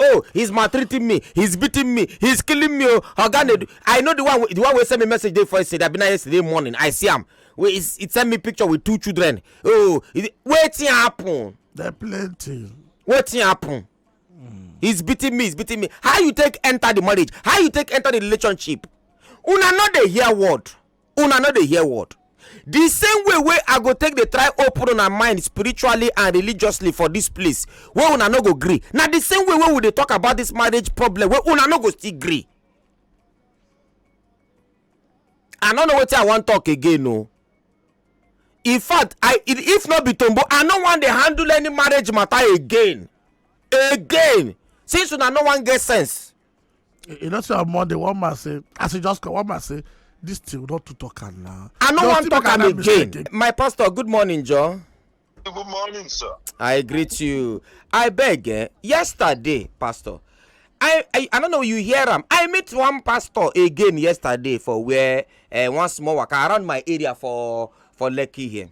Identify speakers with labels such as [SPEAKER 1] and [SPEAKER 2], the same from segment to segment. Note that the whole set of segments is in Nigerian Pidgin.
[SPEAKER 1] oh he's maltreating me he's beating me he's killing me oh oga nedu i know the one the one wey send me message dey for yesterday abi na yesterday morning i see am wey he send me picture with two children oh wetin happen. there plenty. wetin happen. Mm. he's beating me he's beating me how you take enter the marriage how you take enter the relationship una no dey hear word. una no dey hear word the same way wey i go take dey try open una mind spiritually and religiously for this place wey una no go gree na the same way wey we dey talk about this marriage problem wey una no go still gree i no know wetin i wan talk again o in fact i if no be tombo i no wan dey handle any marriage matter again again since una no wan get sense you know say on monday one man say as he just come one man say this thing not to talk am now. i no wan talk am again my pastor good morning john. good morning sir. i greet you i beg eh yesterday pastor I, I i don't know you hear am i meet one pastor again yesterday for where uh, one small waka around my area for for lekki here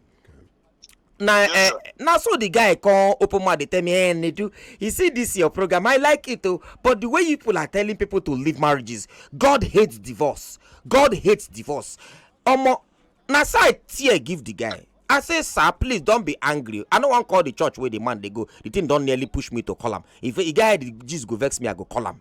[SPEAKER 1] na Yes, eh, sir. na so the guy come open mouth dey tell me eh nedu you see this your program i like it o but the way you people are telling people to leave marriages god hate divorce god hate divorce omo na so i tear give the guy i say sir please don be angry i no wan call the church wey the man dey go the thing don nearly push me to call am if e get how the gist go vex me i go call am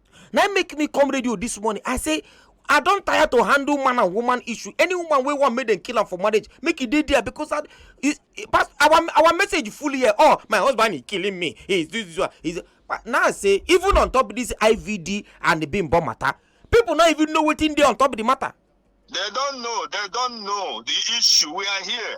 [SPEAKER 1] na im make me come radio this morning i say i don tire to handle man and woman issue any woman wey wan make dem kill am for marriage make e dey there because our our message full here oh my husband is killing me he is this this one he is now i say even on top this ivd and the bimbo matter people no even know wetin dey on top the matter. they don know they don know the issue we are here.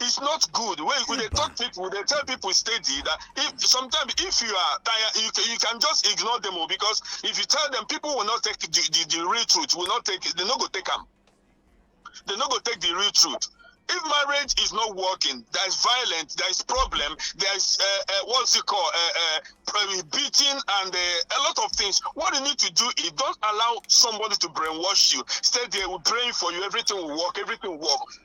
[SPEAKER 1] it's not good when you dey talk people dey tell people steady that if sometimes if you are tired you, can- you can just ignore them o because if you tell them people will not take the the, the real truth will not take they no go take am they no go take the real truth if marriage is not working there is violence there is problem there is uh, uh, what's it called uh, uh, pre- beating and uh, a lot of things what you need to do is don't allow somebody to brainwash you stay there will pray for you everything will work everything will work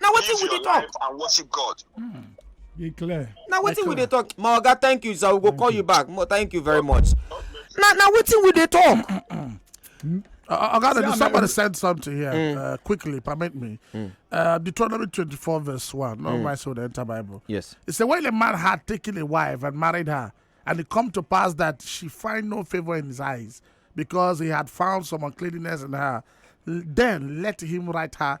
[SPEAKER 1] na wetin we dey talk and worship god hmm. e clear na wetin we dey talk my oga thank you sir we go call you back thank you very much na na wetin we dey talk Uh, I gotta do somebody said something here. Mm. Uh, quickly, permit me. Mm. Uh, Deuteronomy 24, verse 1. No, mm. my soul, the entire Bible. Yes. It said, When a man had taken a wife and married her, and it come to pass that she find no favor in his eyes, because he had found some uncleanness in her, then let him write her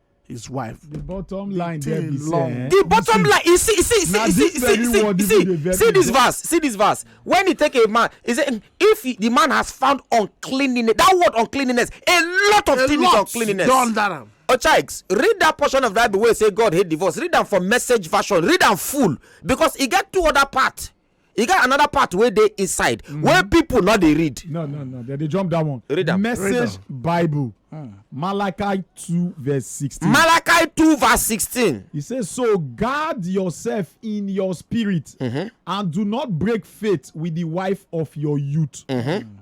[SPEAKER 1] his wife. the bottom line there be say eh, the bottom line you see you see see you see see see see see this verse see this verse when he take a man he say if he, the man has found uncleanliness that word uncleanliness a lot of a things lot uncleanliness done that am. ochaiks read that portion of bible wey say god hate divorce read am for message version read am full because e get two other part e get another part wey dey inside mm-hmm. wey people no dey read no no no they dey jump that one read am message bible ah. malachi two verse sixteen. malachi two verse sixteen. he say so guard yourself in your spirit mm-hmm. and do not break faith with the wife of your youth mm-hmm.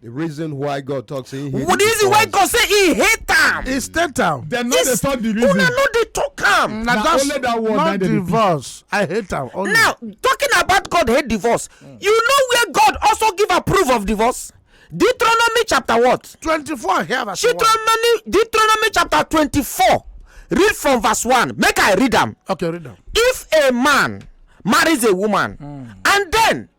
[SPEAKER 1] The reason why God talks say he hate The reason why God say he hate am. He state am. Dem no dey talk the reason. Una no dey talk am. Na just only that word not divorce. I hate am. Only. Now talking about God hate divorce, mm. you know where God also give approve of divorce? Deuteronomy chapter what? Twenty-four. Here verse Deuteronomy, Deuteronomy chapter twenty-four. Read from verse one. Make I read am. Okay, read am. If a man marries a woman mm. and then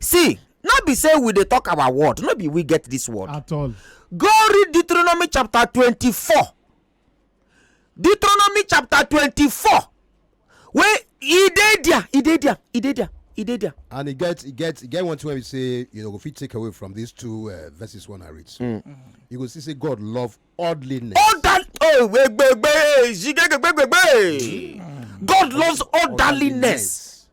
[SPEAKER 1] see no be say we dey talk our word no be we get this word at all go read deuteronomy chapter twenty-four. deuteronomy chapter twenty-four. wey e dey there e dey there e dey there e dey there. and e get e get e get one thing wey be say you know go fit take away from these two uh, verses one i read so mm. you go see say god love orderliness. order oh gbegbe gbegbe gbegbe god loves orderliness.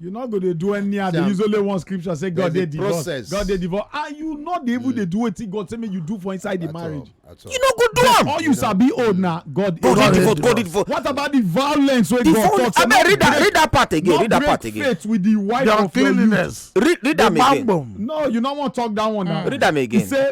[SPEAKER 1] you no go dey do any and dey use only one scripture say god dey divorce god dey divorce and you no dey even dey mm. do wetin god say make you do for inside the marriage you no go do am all you sabi old na god dey divorce god dey divorce what about the violence wey god talk say abeg read that read that part again read that part again faith with the wife of your youth read read am again no you no wan talk that one now mm. read am again he say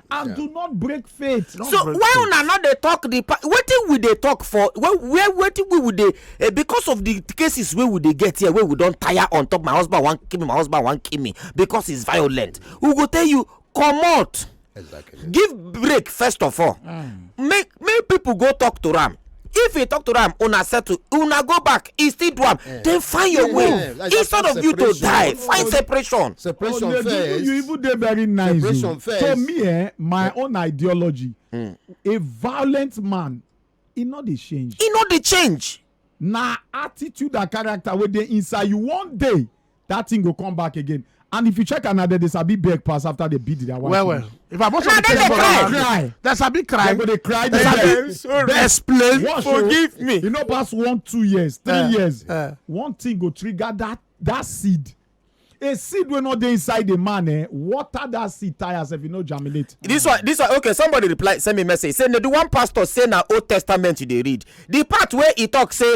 [SPEAKER 1] and yeah. do not break faith. Not so break why faith. una not dey talk the wetin we dey talk for where where wetin we would dey uh, because of the cases wey we dey get here wey we don tire on top my husband wan kill me my husband wan kill me because he's violent we go tell you comot. Exactly. give break first of all. Mm. make make people go talk to am if he talk to am una settle una go back he still do am eh. then find your way eh, like instead of you to die find separation. separation oh, first you even dey very nice oh. separation first to me eh, my own ideology hmm. a violent man e no dey change. e no dey change. na attitude and character wey dey inside you one day that thing go come back again and if you check am na dem dey sabi beg pass after they beat their wife. well well if i watch all the case for am cry dem sabi cry dem go dey cry dem sabi explain oh. forgive me you know pass one two years three uh, years uh, one thing go trigger that that seed a seed wey no dey inside the man eh water that seed tire sef e no germinate. this one this one okay somebody reply send me message say na the one pastor say na old testament you dey read the part wey e talk say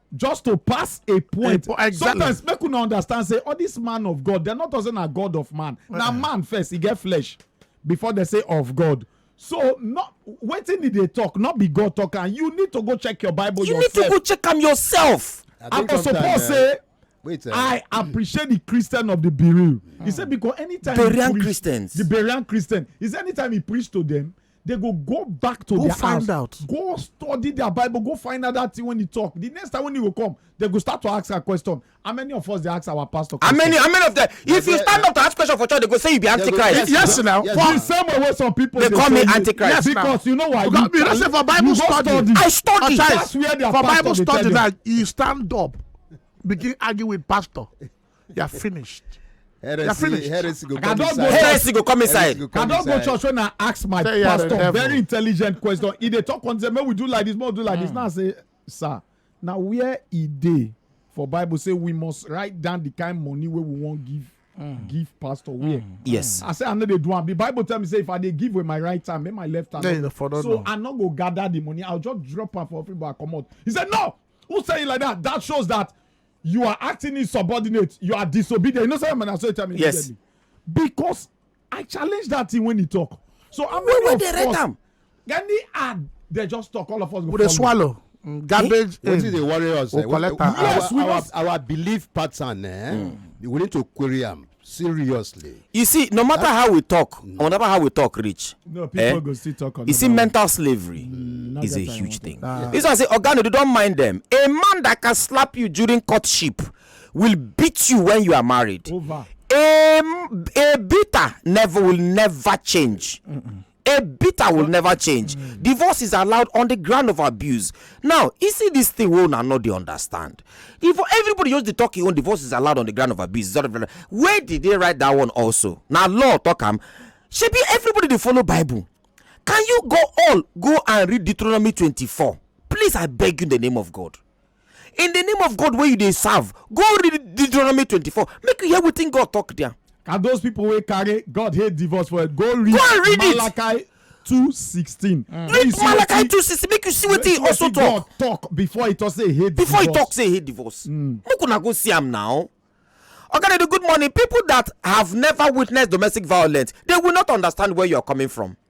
[SPEAKER 1] just to pass a point a, exactly. sometimes make una understand say all this man of god dem not say na god of man uh -uh. na man first e get flesh before they say of god so not wetin e dey talk not be god talk and you need to go check your bible you yourself. need to go check am yourself i go suppose eh, say Wait, uh, I appreciate the Christian of the Berean. Mm. He said because anytime Berean Christians, the Berean Christian, is anytime he preached to them, they go go back to go their find house out. go study their bible go find out that thing when you talk the next time when you go come they go start to ask her question how many of us dey ask our pastor question. how many how many of them yeah, if you stand yeah. up to ask question for church they go say you be antichrist. yes now yes, for the same way wey some people dey call me antichrist. yes because you know why. because you, you know say for bible study, study i study that's where their for bible study now you stand up begin argue with pastor. you are finished. heresy finished. heresy go come inside heresy go come inside i don go church when i ask my say pastor very intelligent question e dey talk on say make we do like this make we do like mm. this hmm. now i say sir na where e dey for bible say we must write down the kind money wey we wan give Mm. give pastor where. Mm. Yes. I say I know they do am. The Bible tell me say if I dey give with my right hand, make my left hand. Yeah, so no. I no go gather the money. I'll just drop am for everybody. Come out. He said no. Who say it like that? That shows that you are acting insubordinate you are disobedient you know say na so you tell me yes because i challenge that thing when he talk so how many of us any ad they just talk all of us go follow swallow mm, garbage in wetin dey worry us eh? collect am yes we our our belief pattern eh hmm. we need to query am seriously you see no matter how we talk mm. no matter how we talk rich no eh, people eh? go still talk on you see mental slavery mm, is a huge thing ah. this one say ogano you don't mind them a man that can slap you during courtship will beat you when you are married Over. a a bitter never will never change Mm-mm. A bitter will never change. Mm. Divorce is allowed on the ground of abuse. Now, you see this thing we una not dey understand. If everybody just dey talk im own divorce is allowed on the ground of abuse, where did they write that one also? Now law talk am. Shebi everybody dey follow Bible. Can you go all go and read Deuteronomy 24? Please, I beg you in the name of God. in the name of god wey you dey serve go read deuteronomy twenty-four make you hear wetin god talk there. and those people wey carry god hate divorce for it go read, go read malachi it. 216 mm. read malachi 216 make you see wetin he also talk God talk before he talk say hate before divorce. he talk say hate divorce mm. make una go see am now okay they do good morning people that have never witnessed domestic violence they will not understand where you are coming from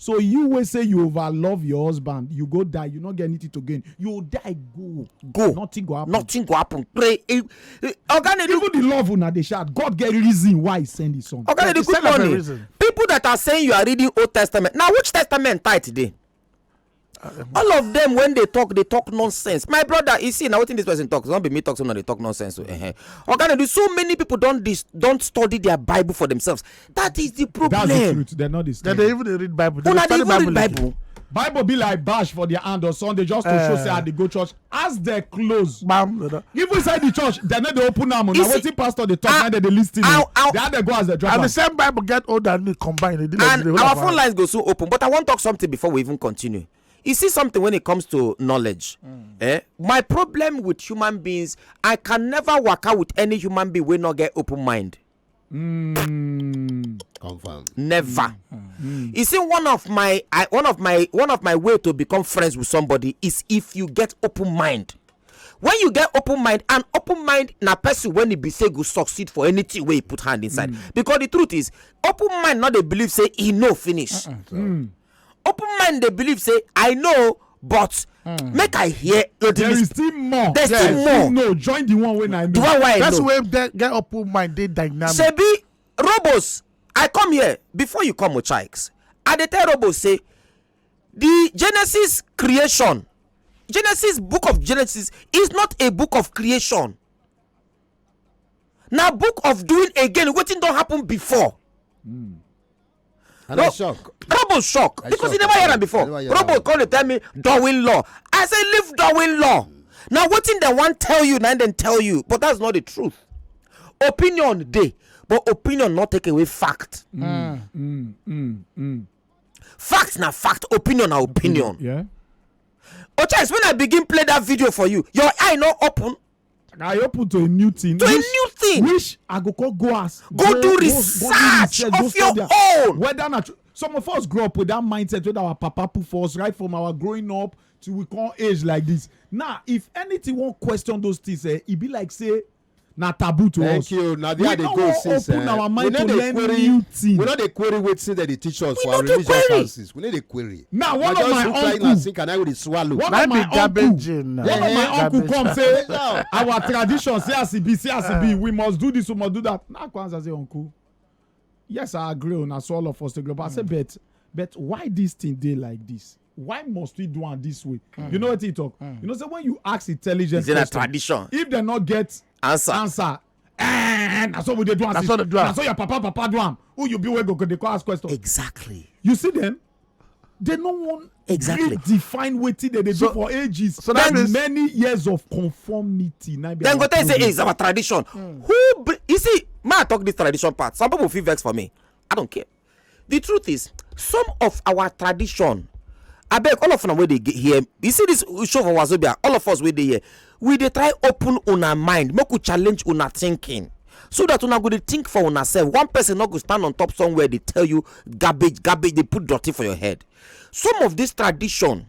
[SPEAKER 1] So you wey say you over love your husband, you go die, you no get anything to gain. You die go. Go. Nothing go happen. Nothing go happen. Pray. Eh, eh, Oga Nedu. Even the love una dey shout, God get reason why he send his son. Oga Nedu, good morning. People that are saying you are reading Old Testament. Now which testament tie today? all of them when they talk they talk nonsense my brother you see now wetin this person talk no be me talk so na dey talk nonsense o oh, eh, oga na do so many people don don study their bible for themselves that is the problem that's the truth they no dey study they even dey read bible they dey study bible bible bible be like bash for their hand on sunday just to show say i ah. dey go church as dem close Bam, brother. even inside the church dem no dey open am o You na see, wetin pastor dey talk I- na dem dey lis ten I- o I- the how dem go as dem drop And am the same Bible get old and new combined. They did like and they hold our am phone around. lines go soon open but i wan talk something before we even continue you see something when it comes to knowledge eh my problem with human beings i can never waka with any human being wey no get open mind Mm. Confirm. Never. Mm. You see, one of my I, one of my one of my way to become friends with somebody is if you get open mind. When you get open mind, an open mind na person when he be say go succeed for anything where he put hand inside. Mm. Because the truth is, open mind not they believe say he no finish. Uh -uh. Mm. open mind dey believe say i know but hmm. make i hear your there is still more there still more no join the one wey i know the one wey i know that's where get open mind dey dynamic sebi robos i come here before you come ochikes i dey tell robos say the genesis creation genesis book of genesis is not a book of creation na book of doing again wetin don happen before hmm. And no, I shock. Robo shock I because shock. he never heard am before. Robo come dey tell me Darwin law. I say leave Darwin law. Now wetin dem wan tell you na dem tell you but that's not the truth. Opinion dey but opinion no take away fact. Mm, mm, mm, mm. Fact na fact, opinion na opinion. Yeah. Ocha, when I begin play that video for you, your eye no open. i open to a new thing to a which- new thing which i go come go as go do research go of your study am. own whether na true some of us grow up with that mindset wey our papa put for us right from our growing up till we come age like this now if anything wan question those things eh e be like say na taboo to thank us you na there We i dey no go wan since open eh, our we mind no to dey learn query new thing. we no dey query wetin dem dey teach us We for no our dey religious query. houses we no dey query now one of my uncle sink and i go dey swallow one of my uncle one of my eh, uncle come say our tradition say as e be say as e be eh. we must do this we must do that na kwanzaa say uncle yes i agree una so all of us dey global i say hmm. but but why this thing dey like this why must we do am this way mm. you know wetin he talk mm. you know say when you ask intelligent question tradition if dem no get answer answer Eh, na so we dey do am. Na so dey do am. Na so your papa papa do am. Who you be wey go go dey call ask question. Exactly. You see them? They no wan exactly define wetin dem dey do for ages. So that means many years of conformity. Then go tell you say hey, it's our tradition. Mm. Who you see? Ma talk this tradition part. Some people feel vex for me. I don't care. the truth is some of our tradition I beg all of them where they get here you see this show for wazobia all of us where they here we they try open on our mind make we challenge on our thinking so that una go dey think for una sef one person no go stand on top somewhere dey tell you garbage garbage dey put dirty for your head some of this tradition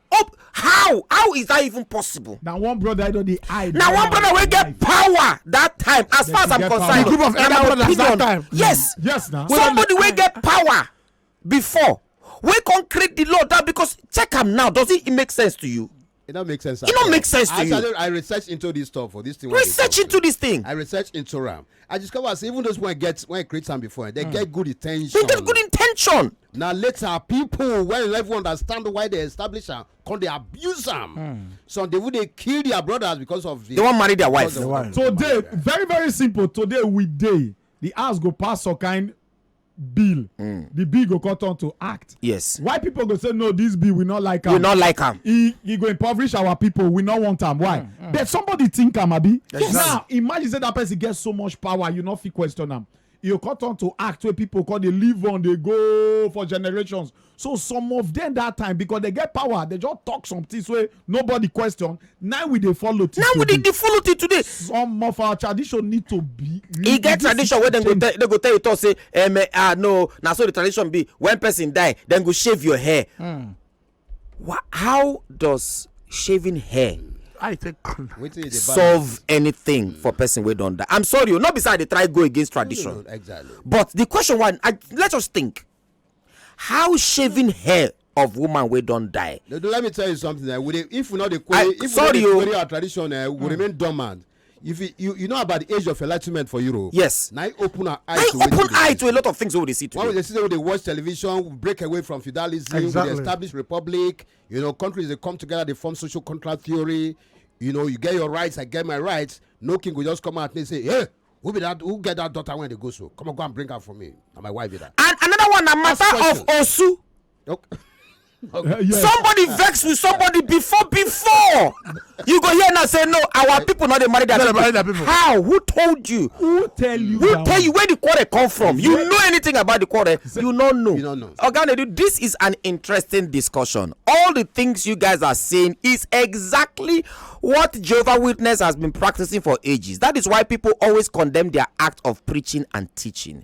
[SPEAKER 1] Oh, how how is that even possible. na one brother i don dey hide. na one brother wey get power that time as far as i'm concerned. the group of elder brothers that time. yes yes na. somebody wey get power before wey come create the law that because check am now does it make sense to you. It don't make sense. It don't make sense to I, you. I research into this stuff for this thing. Research into this thing. I research into RAM. I discover say even those when I get when I create some before, they mm. get good intention. They get good intention. na later people wey no even understand why they establish am come dey abuse am hmm. some dey even dey kill their brothers because of the. they wan marry their wife. today very very simple today we dey the house go pass some kind bill hmm. the bill go come turn to act yes why people go say no this bill we not like am we not like am e e go impoverish our people we not want am why hmm, but somebody think am abi now imagine say that person get so much power you no fit question am e go come turn to act wey people come dey live on dey go for generations so some of them that time because they get power they just talk some things wey nobody question now we dey follow till now we dey today dey follow till today some of our tradition need to be e get this tradition wey dem go change. tell dem go tell you talk say um, eh, ah no na so the tradition be when person die dem go shave your hair Hmm. Wha- how does shaving hair I take Wetin you dey balance? solve anything for person wey don die i'm sorry o no be say i dey try go against tradition Exactly. but the question one i let's just think how shaving hair of woman wey don die No, no, let me tell you something. Eh, we dey, if we not the query, I- if sorry, we oh. not dey query our tradition, eh, we remain dormant. you fit you, you know about the age of enlightenment for europe yes na e open our eye to open eye to a lot of things wey we dey see today when we dey see say we dey watch television we break away from feudalism exactly. we dey establish republic you know countries dey come together dey form social contract theory you know you get your rights i get my rights no king go just come out and say hey who be that who get that daughter when they go so come on go and bring her for me na my wife be that. and another one na matter of osu Okay. okay. Uh, yes. somebody vex with somebody before before you go here now say no our people not dey marry their people. Marry their people how who told you who tell you who tell you where the quarrel come from you know anything about the quarrel you no know you no know oga nedu this is an interesting discussion all the things you guys are saying is exactly what jehovah witness has been practicing for ages that is why people always condemn their act of preaching and teaching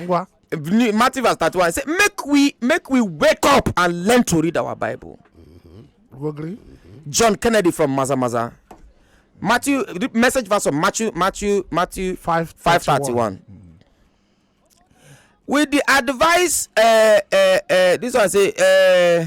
[SPEAKER 1] ngwa New- Matthew verse 31 he say make we make we wake up and learn to read our Bible. you agree John Kennedy from Maza Maza. Matthew the message verse of Matthew Matthew Matthew Five 531. With the advice uh, uh, uh, this one say uh,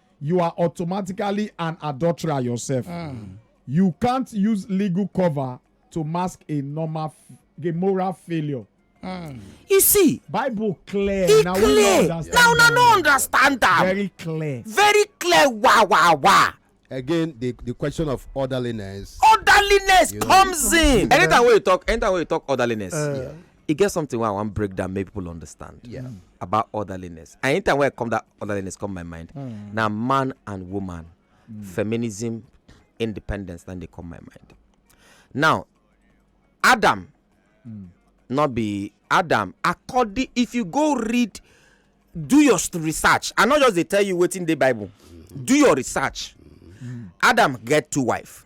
[SPEAKER 1] you are automatically an adulterer yourself. You can't use legal cover to mask a normal, f- a moral failure. you see Bible clear. e na we no clear understand na una am. no understand am Very clear. very clear wa wa wa again the the question of orderliness orderliness You know, comes in. anytime wey you talk anytime wey you talk orderliness e get something wey i wan break down make people understand yeah. Mm. about orderliness and anytime wey i come that orderliness come my mind mm. na man and woman mm. feminism independence na dey come my mind now adam mm. no be adam according if you go read do your research i no just dey tell you wetin dey bible mm. do your research mm. adam get two wife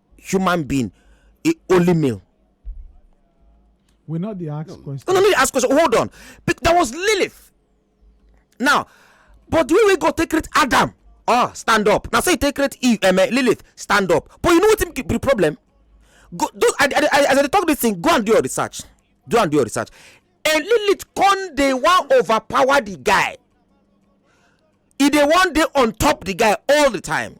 [SPEAKER 1] human being e only male. we not the ask no. question. no no no ask question hold on there was lilith now but the way we go take create adam oh stand up now say so take create eve um, uh, lilith stand up but you know what be the problem go do I, I, I, as i talk this thing go and do your research do and do your research and lilith con dey wan overpower the guy e dey wan dey on top the guy all the time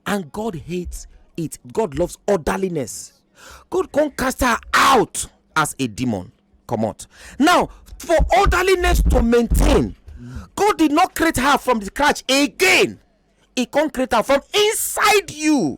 [SPEAKER 1] and god hates it god loves orderliness god come cast her out as a demon comot now for orderliness to maintain god did not create her from the scratch again He come create her from inside you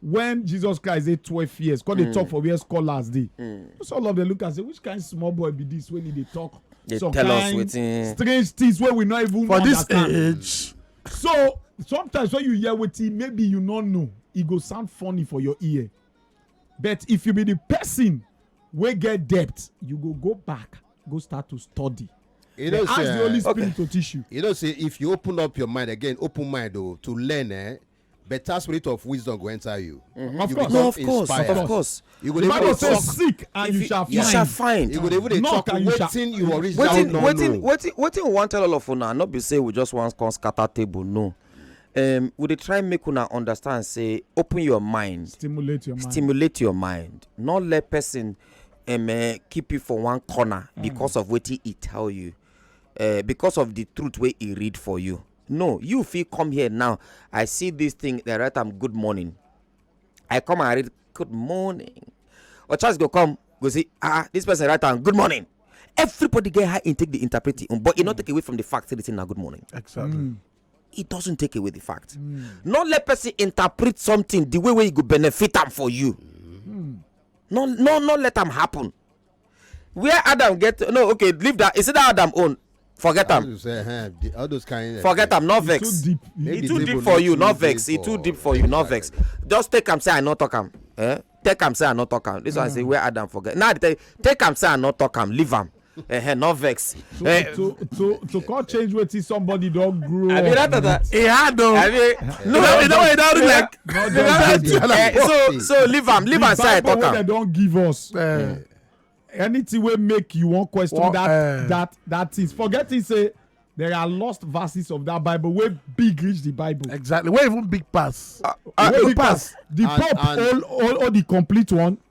[SPEAKER 1] when jesus christ dey twelve years come dey mm. talk for where scholars dey mm. so all of them look and say which kind small boy be this wey he dey talk they some tell kind us wetin strange things wey we no even for understand. this age. so sometimes when you hear wetin maybe you no know e go sound funny for your ear but if you be the person wey get debt you go go back go start to study you know, ask say, the holy eh, spirit okay. to teach you. you know say if you open up your mind again open mind o oh, to learn eh better spirit of wisdom go enter you. Mm-hmm. Of you course, no, of course, inspired. of course. You go the Bible says, "Seek and you, you shall find." You shall find. You go even dey talk and waiting you original waiting, no waiting, no. Waiting, waiting. We want tell all of una. Not be say we just want come scatter table. No. Um, we dey try make una understand. Say, open your mind. Stimulate your mind. Stimulate your mind. Not let person um, uh, keep you for one corner mm. because of what he tell you, uh, because of the truth wey he read for you. no you fit come here now i see this thing they write am good morning i come and read good morning or chance go come go see ah this person write am good morning everybody get high intake the interpret it but e no mm. take away from the fact say the thing na good morning exactly mm. it doesn't take away the fact mm. no let person interpret something the way wey e go benefit am for you mm. no no no let am happen where adam get no okay leave that is it that adam own forget am eh, all those kind forget am no vex e too deep e too deep for you no vex e too deep for you no vex just take am say i no talk am eh take am say i no talk am this one say mm. where adam forget now i tell you take am say i no talk am leave am eh no vex to eh, to to to come change wetin somebody don grow up with. e hard o no e don e don read like eh, so so leave am leave am side talk am. the bible wey dem don give us. Eh, anything wey make you wan question well, that uh, that that things forget it say there are lost verses of that bible wey big reach the bible. exactly wey even big pass. Uh, uh, wey big pass. pass the pope hold hold hold the complete one